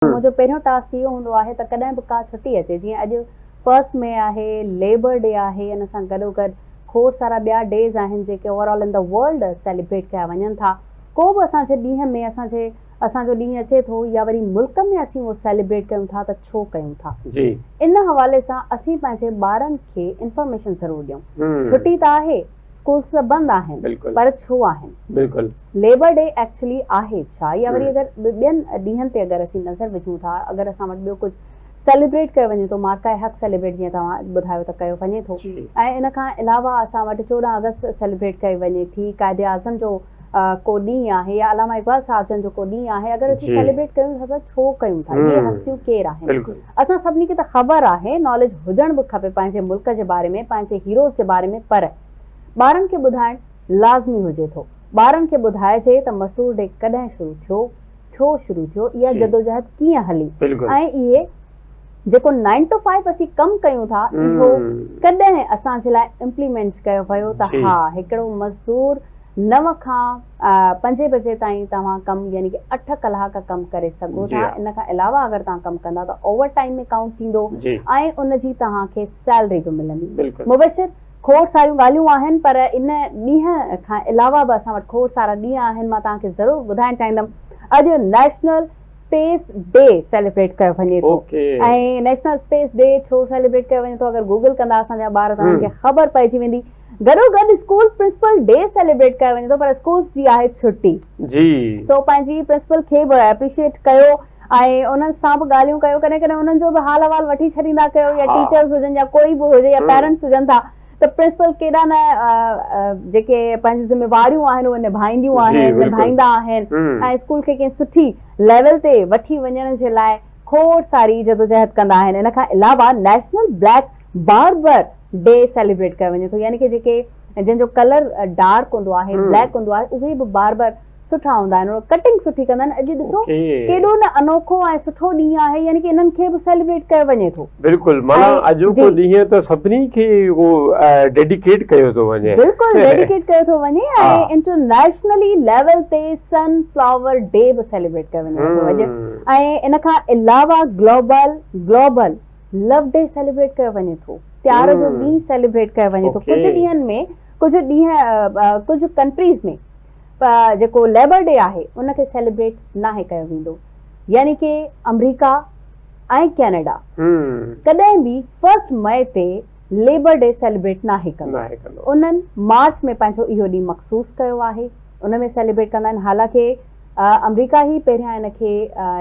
منهنجو پهريون ٽاسڪ اهو هوندو آهي ته ڪڏهن به ڪا ڇٽي اچي جيئن اڄ فرسٽ مئي آهي، ليبر ڊي آهي ان سان گڏوگڏ کوڙ سارا ٻيا ڊيز آهن جيڪي over all in the world celebrate ڪيا وڃن ٿا. ڪو به اسان جي ڏينهن ۾ اسان جي اسان جو ڏينهن اچي ٿو يا وري ملڪ ۾ اسين اهو سيليبريٽ ڪيون ٿا ته ڇو ڪيون ٿا. ان حوالي سان اسين پنهنجي ٻارن کي انفارميشن ضرور ڏيون. ڇٽي ته آهي. اسڪولس ته بند آهن پر ڇو آهن؟ ليبر ڊي ايڪچولي آهي ڇا؟ يا وري اگر ٻين ڏينهن تي اگر اسين نظر وجهون ٿا اگر اسان وٽ ٻيو ڪجهه سيليبريٽ ڪيو وڃي ٿو مارڪائي حق سيليبريٽ جيئن توهان ٻڌايو ته ڪيو وڃي ٿو ۽ ان کان علاوه اسان وٽ چوڏهن آگسٽ سيليبريٽ ڪئي وڃي ٿي قائد اعظم جو ڪو ڏينهن آهي يا علامه اقبال صاحب جن جو ڪو ڏينهن آهي اگر اسين سيليبريٽ ڪيون ٿا ته ڇو ڪيون ٿا اهي هستيون ڪير آهن اسان سڀني کي ته خبر آهي ناليج هجڻ به کپي پنهنجي ملڪ جي باري ۾ پنهنجي هيروز جي باري ۾ پر ٻارن کي ٻڌائڻ لازمي هجي ٿو ٻارن کي ٻڌائجي ته مسور ڊي ڪڏهن شروع ٿيو ڇو شروع ٿيو اها جدوجهد ڪيئن هلي ۽ اهي جيڪو نائن ٽو فائيو اسين ڪم ڪيون ٿا اهو ڪڏهن اسان جي لاء امپليمينٽ ڪيو ويو ته ها هڪڙو مزدور نو کان پنجين بجي تائين توهان ڪم يعني ڪي اٺ ڪلاڪ ڪم ڪري سگهو ٿا ان کان علاوه اگر توهان ڪم ڪندا ته اوور ٽائيم ۾ ڪائونٽ ٿيندو ۽ ان جي توهان کي سيلري به ملندي مبشر کوڙ ساريون ڳالهيون آهن پر ان ڏينهن کان علاوه به اسان وٽ کوڙ سارا ڏينهن آهن مان توهان کي ضرور ٻڌائڻ چاهيندم اڄ نيشنل اسپيس ڊي سيليبريٽ ڪيو وڃي ٿو ۽ نيشنل اسپيس ڊي ڇو سيليبريٽ ڪيو وڃي ٿو اگر گوگل ڪندا اسان جا ٻار ته انهن کي خبر پئجي ويندي گڏو گڏ اسڪول پرنسپل ڊي سيليبريٽ ڪيو وڃي ٿو پر اسڪولز جي آهي ڇٽي جي سو پنهنجي پرنسپل کي به اپريشيٽ ڪيو ۽ انهن سان به ڳالهيون ڪيو ڪڏهن ڪڏهن انهن جو به حال احوال وٺي ڇڏيندا ڪيو يا ٽيچرز هجن يا ڪوئي به هجي يا پيرنٽس هجن ٿا ته پرنسپل ڪيڏا نه جيڪي پنهنجون ذميواريون آهن اهي نڀائينديون آهن نڀائيندا آهن ۽ اسڪول کي ڪنهن سٺي ليول تي وٺي وڃڻ جي لاء کوڙ ساري جدوجهد ڪندا آهن ان کان علاوه national black barber day celebrate ڪيو وڃي ٿو يعني ڪي جيڪي جن جو ڪلر ڊارڪ هوندو آهي بليڪ هوندو آهي اهي به باربر سٺا هوندا آهن انهن ڪٽنگ سٺي ڪندا آهن اڄ ڏسو ڪيڏو نه انوکو ۽ سٺو ڏينهن آهي يعني ڪي انهن کي به سيليبريٽ ڪيو وڃي ٿو بلڪل معنيٰ اڄوڪو ڏينهن ته سڀني کي اهو ڊيڊيڪيٽ ڪيو ٿو وڃي بلڪل ڊيڊيڪيٽ ڪيو ٿو وڃي ۽ انٽرنيشنلي ليول تي سن فلاور ڊي به سيليبريٽ ڪيو وڃي ٿو اڄ ۽ ان کان علاوه global global love day celebrate ڪيو وڃي ٿو پيار جو ڏينهن سيليبريٽ ڪيو وڃي ٿو ڪجهه ڏينهن ۾ ڪجهه ڏينهن ڪجهه ڪنٽريز ۾ جيڪو ليبر ڊي آهي ان کي سيليبريٽ ناهي ڪيو ويندو يعني ڪي آمريڪا ۽ ڪينيڊا ڪڏهن به فرسٽ مئي تي ليبر ڊي سيليبريٽ ناهي ڪندو انهن مارچ ۾ پنهنجو اهو ڏينهن مخصوص ڪيو آهي ان ۾ سيليبريٽ ڪندا آهن حالانڪه آمريڪا هي پهريان ان کي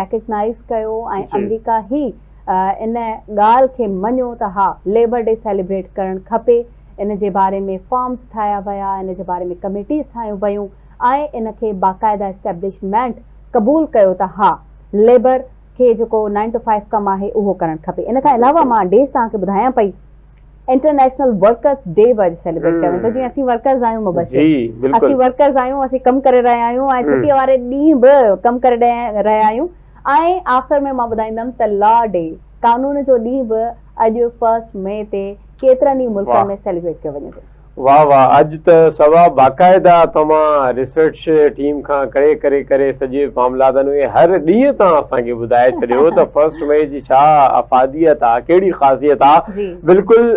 ريڪگنائيز ڪيو ۽ آمريڪا هي ان ڳالهه کي مڃو ته ها ليبر ڊي سيليبريٽ ڪرڻ کپي، ان جي باري ۾ فارمز ٺاهيا ويا، ان جي باري ۾ ڪميٽيز ٺاهيون ويون ۽ ان کي باقاعده اسٽيبلشمينٽ قبول ڪيو ته ها ليبر کي جيڪو نائن ٽو فائيو ڪم آهي اهو ڪرڻ کپي. ان کان علاوه مان ڊيز توهان کي ٻڌايان پئي انٽرنيشنل ورڪرز ڊي به اڄ سيليبريٽ ڪيو ويندو جيئن اسين ورڪرز آهيون مبشر اسين ورڪرز آهيون اسين ڪم ڪري رهيا آهيون ۽ ڇٽي واري ڏينهن به ڪم ڪري رهيا آهيون. ۽ آخر ۾ مان ٻڌائيندم ته لا ڊي قانون جو ڏينهن به اڄ فرسٽ مئي تي ڪيترن ئي ملڪن ۾ سيليبريٽ ڪيو وڃي ٿو. واھ واھ اڄ ته سوا باقاعده توهان ريسرچ ٽيم کان ڪري ڪري ڪري سڄي معاملاتن کي هر ڏينهن تان اسان کي ٻڌائي ڇڏيو ته فرسٽ مئي جي ڇا افاديت آ ڪهڙي خاصيت آ بلڪل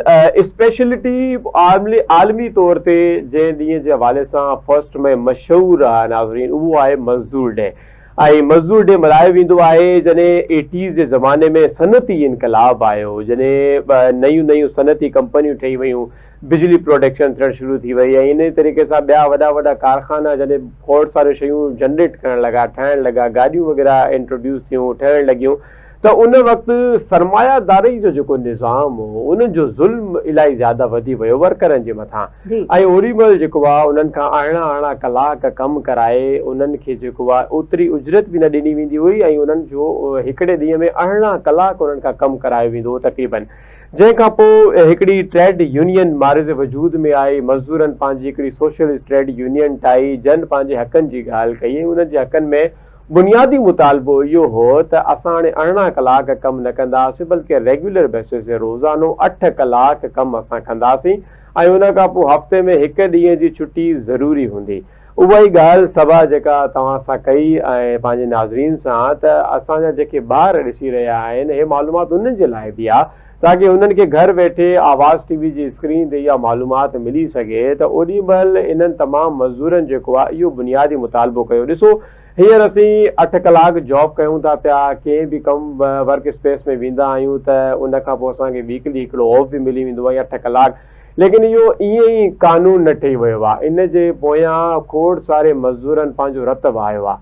اسپيشلٽي عالمي طور تي جنهن ڏينهن جي حوالي سان فرسٽ مئي مشهور آ ناظرين اهو آهي مزدور ڊي ۽ مزدور ڏي ملهايو ويندو آهي جڏهن ايٽيز جي زماني ۾ صنعتي انقلاب آيو جڏهن نيون نيون صنعتي ڪمپنيون ٺهي ويون بجلي پروڊڪشن ٿيڻ شروع ٿي وئي ۽ انهي طريقي سان ٻيا وڏا وڏا ڪارخانا جڏهن کوڙ ساريون شيون جنريٽ ڪرڻ لڳا ٺاهڻ لڳا گاڏيون وغيره انٽروڊيوس ٿيون ٺهڻ لڳيون ته ان وقت سرمايه داري جو جيڪو نظام هو ان جو ظلم الائي زياده وڌي ويو ورڪرن جي مٿان ۽ اوري مهل جيڪو آ انهن کان اهڙا اهڙا ڪلاڪ ڪم ڪرائي انهن کي جيڪو آ اوتري اجرت به نه ڏني ويندي هئي ۽ انهن جو هڪڙي ڏينهن ۾ اهڙا ڪلاڪ انهن کان ڪم ڪرايو ويندو هو تقريبن جنهن کان پو هڪڙي ٽريڊ يونين معرض وجود ۾ آئي مزدورن پنهنجي هڪڙي سوشلسٽ ٽريڊ يونين ٺاهي جن پنهنجي حقن جي ڳالهه ڪئي ۽ انهن جي حقن ۾ بنيادي مطالبو اهو هو ته اسان هاڻي ارڙهن ڪلاڪ ڪم نه ڪنداسين بلڪه ريگيولر بيسز تي روزانو اٺ ڪلاڪ ڪم اسان ڪنداسين ۽ ان کان پوء هفتي ۾ هڪ ڏينهن جي ڇٽي ضروري هوندي. اها ئي ڳالهه سڀا جيڪا توهان سان ڪئي ۽ پنهنجي ناظرين سان ته اسان جا جيڪي ٻار ڏسي رهيا آهن هي معلومات انهن جي لاء به آهي تاڪه انهن کي گهر ويٺي آواز ٽي وي جي اسڪرين تي اها معلومات ملي سگهي ته اوڏي مهل انهن تمام مزدورن جيڪو آهي اهو بنيادي مطالبو ڪيو ڏسو هينئر اسين اٺ ڪلاڪ جاب ڪيون ٿا پيا ڪنهن به ڪم ورڪ اسپيس ۾ ويندا آهيون ته ان کان پوء اسان کي ويڪلي هڪڙو آف به ملي ويندو آهي يا اٺ ڪلاڪ ليڪن اهو ائين ئي قانون نه ٺهي ويو آهي ان جي پويان کوڙ ساري مزدورن پنهنجو رت وهايو آهي.